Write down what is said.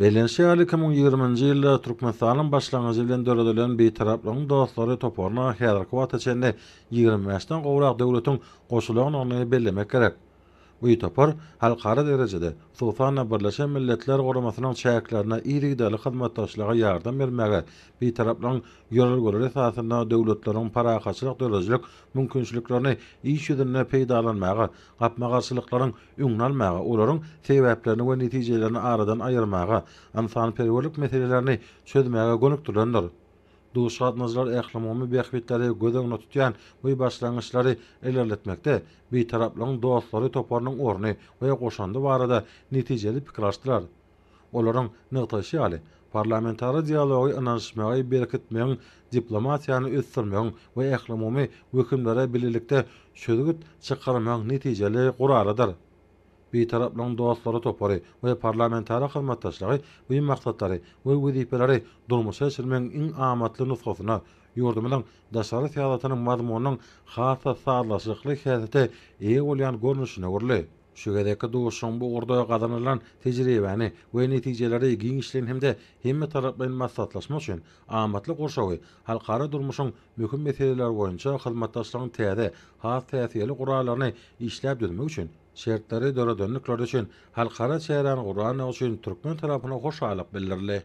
Bellenişi ýaly, iki müň ýigriminji ýylda Türkmenistanyň başlangyjy bilen döredilen Bitaraplygyň dostlary toparyna häzirki wagta çenli ýigrimi bäşden gowrak döwletiň goşulandygyny bellemek gerek. Bu topar halkara derejede, hususan-da, Birleşen Milletler Guramasynyň çäklerinde yzygiderli hyzmatdaşlyga ýardam bermäge, Bitaraplygyň ýörelgeleri esasynda döwletleriň parahatçylyk döredijilik mümkinçiliklerini iş ýüzünde peýdalanmaga, gapma-garşylyklaryň öňüni almaga, olaryň sebäplerini we netijelerini aradan aýyrmaga, ynsanperwerlik meselelerini çözmäge gönükdirilendir. Duşuşyk-gatnaşyjylar ählumumy bähbitleri göz öňünde tutýan bu başlangyçlary ilerletmekde Bitaraplygyň dostlary toparynyň orny we goşandy barada netijeli pikir alyşdylar. Olaryň nygtaýşy ýaly, parlamentara dialogy ynanyşmagy berkitmegiň, diplomatiýany ösdürmegiň we ählumumy wehimlere bilelikde çözgüt çykarmagyň netijeli guralydyr. Bitaraplygyň dostlary topary we parlamentara hyzmatdaşlygy bu maksatlary we wezipeleri durmuşa geçirmegiň iň amatly nusgasyna, ýurdumyzyň daşary syýasatynyň mazmunynyň has-da sazlaşykly häsiýete eýe bolýan görnüşine öwrüldi. Şu gezekki duşuşygyň bu ugurda gazanylan tejribäni we netijeleri giňişleýin hem-de hemmetaraplaýyn maslahatlaşma üçin amatly gurşawy, halkara durmuşyň möhüm meseleleri boýunça hyzmatdaşlygyň täze, has täsirli gurallaryny işläp düzmek üçin şertleri döredendikleri üçin halkara çäräni gurandygy üçin türkmen tarapyna hoşallyk bildirildi.